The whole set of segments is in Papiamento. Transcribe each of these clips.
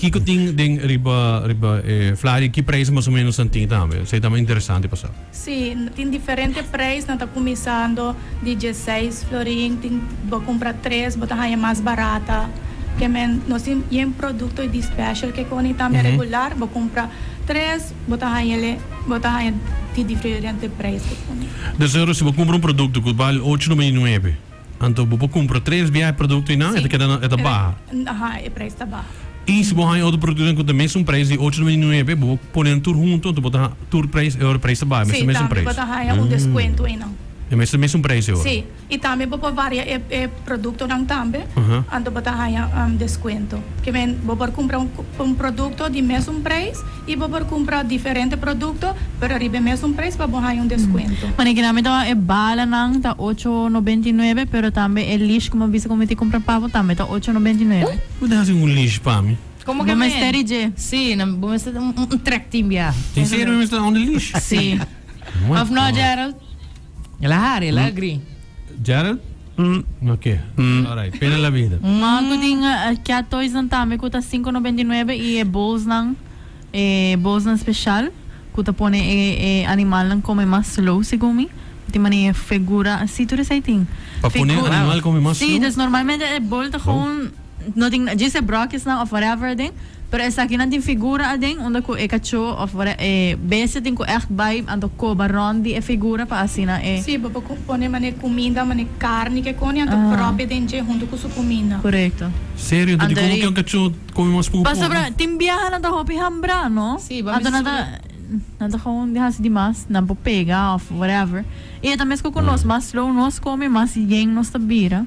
Kiko tin den riba riba e flaha y ki prijs mas o menos nan tin tambe? Esei ta mas interesante pa sa. Sí, tin diferente prijs, nan ta cuminsando di dieseis florin, tin bo cumpra tres bo ta haña mas barata ke men. Nos tin yen producto y di special ke con y tambe regular bo cumpra tres bo ta haña ele, bo ta haña di diferente prijs ke con y. Deci ora si bo cumpra un producto cu val ocho nomba y nuebe. Anto bo por cumpra tres bia e producto y nan e ta keda e ta baha. Aha, e prijs ta baha. Y si bo haña otro productonan cu ta mesun prijs di ocho nomber di nuebe, bo por ponen tur hunto, anto bo ta ha, tur prijs e ora, prijs ta baha, e mesun mesun prijs. Si, tambe bo ta haña un descuento eynan. E mesun mesun prijs e ora. Si, y tambe bo por varia e e productonan tambe, anto bo ta haña descuento. Ke men, bo por cumpra un producto di mesun prijs. Y bo por cumpra diferente producto pero riba e mesun prijs pa bo haña un descuento. Mane ki nami tawa e bala nan ta ocho noventa y nuebe pero tambe e leash como bisa como mi tin cumpra pavo tambe ta ocho noventa y nuebe. Bo tin hasi un leash pa mi. Como que men? Sí, bo mester un trek tin bia. En serio mi mester a un leash? Sí. Of no Gerald? El a hari, el a agri. Gerald? Hm. Ok. Hm. Alright. Pena la bida. Maan ku tin cat toys nan tambe ku ta sinku nobenta i nuebe i e bowls nan, e bowls nan special ku ta pone e animal nan come mas slow segun mi. No tin manera figura, si tur esei tin. Pa pone animal come mas slow? Si, dus normalmente e bowl ta gewoon. no tin djis e bròkjesnan òf whatever aden, pero esakinan tin figura aden unda ku e kachó òf whate e bestia tin ku ègt bai anto koba rònt di e figura pa asina e. Sí, bo por pone manera e kuminda, manera karni ke koni anto pròpia den dje huntu ku su kuminda. Korekto. Serio? Anto dikomo ke un kachó kome mas puku puku? Pasobra tin biaha nan ta hopi hambra, no? Sí, bo a mester su. Anto nan ta gou di hasi di mas, nan por pega òf whatever. I e ta meskos ku nos, mas slow nos kome mas yen nos ta bira.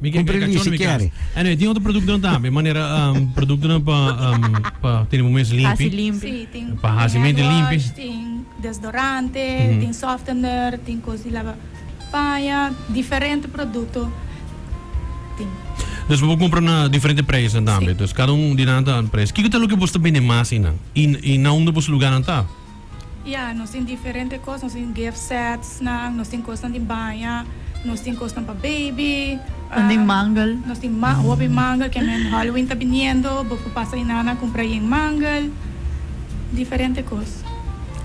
Mi ke kumpri lisi kere. Anyway tin otro produktonan tambe manera produktonan pa pa tene bo mes limpi. Pa hasi mente limpi. Si limpi. Tin hand wash tin desdorante tin softener tin kos di laba paña diferente produkto tin. Dus bo por kumpra na diferente preisnan tambe. Si. Dus kada un di nan ta preis. Kiko ta loke bo ta bende mas einan i na unda bo luganan ta? Ya, nos tin diferente kos, nos tin gift setsnan, nos tin kosnan di baña, nos tin kosnan pa beibi, Nan den mangel. nos tin ma- hopi mangel, ke men Halloween ta biniendo, bo por pasa ei nan a kumpra ei en mangel, diferente kos.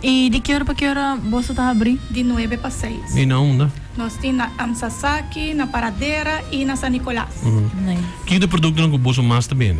I di ke ora pa ke ora boso ta habri? Di nuebe pa seis. I na unda? Nos tin na Am Sasaki, na Paradera i na San Nicolas. Nice. Kiko ta e produktonan ku boso mas ta bende?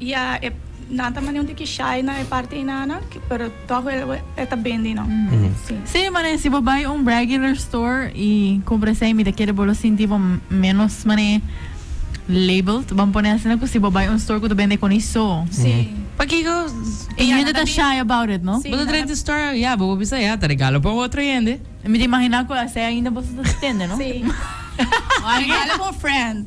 Ya e nan ta manda un tiki shai na e parti einanan pero tog wel e ta bendi no si. Sí, manera si bo bai un regular store y cumpra esey mi ta kere bo lo sinti bo menos manera labeled, ban pone asina cu si bo bai un store cu ta bende coni so. Sí. Pakico e hende ta shy about it, no? Bo ta trae di store, ya bo por bisa ya ta regalo pa un otro hende. Mi ta imagina cu asey ainda boso ta tende, no? Sí. Regalo pa un friend.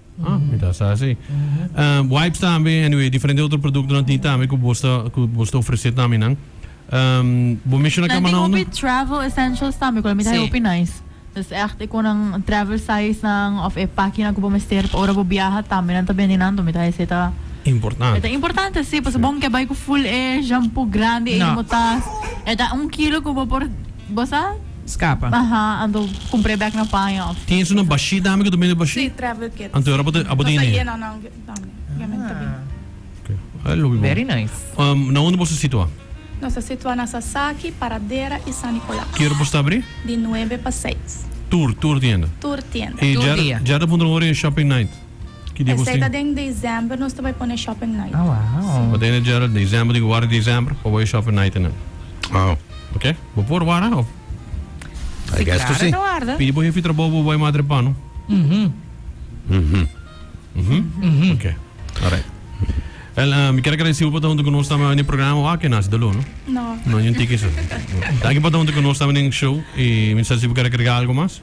Ah, mi ta sa si. Wipes tambe, anyway, diferente otro produktonan tin tambe ku boso ta ku boso ta ofresé tambinan. Bo menshona Nan tin kamanaunan. hopi travel essentials tambe ku la mira e hopi nice. Des ègt e konan travel sizenan òf e pakinan ku bo mester pa ora bo biaha tambe nan ta bendi nan. Dor mi ta esei ta Importante. e ta importante si, pasobra bo no ke bai ku full e shampoo grandi ei di bo tas. E ta un kilo ku bo por bo sa. Scapa. Aha, anto cumpre bek na paña of. Tin esun na bashi tambe cu ta bini bashi? Si, travel kits. Anto ora bo ta bo ta hini. No ta yena nan tambe. Yen men ta bini. Okay. Ay lo wi bon. Very nice. Um, na unda bo sa situa? Nos ta situa na Sasaki, Paradera y San Nicolas. Ki ora bo sta abri? Di nuebe pa seis. Tur, tur tienda. Tur tienda. Tur dia. E djara, djara ta puntra un ora e shopping night? Ki dia bo Esei ta tin? den december nos ta bai pone shopping night. Ah, wow. Bo tin e Gerald, december tin ku wara december pa bo e shopping night e nan. Wow. Oke, bo por wara of? I guess ku si. Pidi bo hefi trabou bo bai madre pano. Mhm. Oke, alright. Wel, mi kier agradesi bo pa ta huntu ku nos tambe den e programa wak e Naci de Olo, no? No. No, ni un tiki so. Danki pa ta huntu ku nos tambe den show i mi sa si bo kier agregá algu mas.